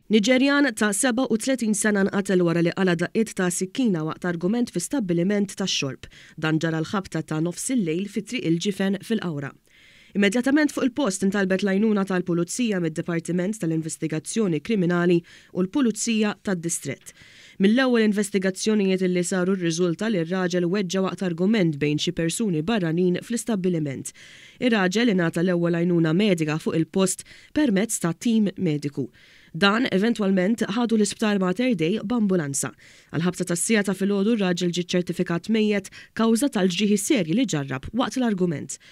Niġerjan ta' 37 sena nqatel wara li qala' daqqiet ta' sikkina waqt argument fi stabbiliment tax-xorb. Dan ġara l-ħabta ta' nofs il-lejl fi Triq il-Ġifen fil-Qawra. Immedjatament fuq il-post intalbet l-għajnuna tal-Pulizija mid-Dipartiment tal-Investigazzjoni Kriminali u l-Pulizija tad-Distrett. Mill-ewwel investigazzjonijiet li saru rriżulta li r-raġel weġġa' waqt argument bejn xi persuni barranin fl-istabbiliment. Ir-raġel ingħata l-ewwel għajnuna medika fuq il-post permezz ta' tim mediku. Dan eventwalment ħadu l-isptar Mater Dei b'ambulanza. Għall-ħabta tas-siegħa ta' filgħodu r-raġel ġie ċċertifikat mejjet kawża tal-ġrieħi serji li ġarrab waqt l-argument.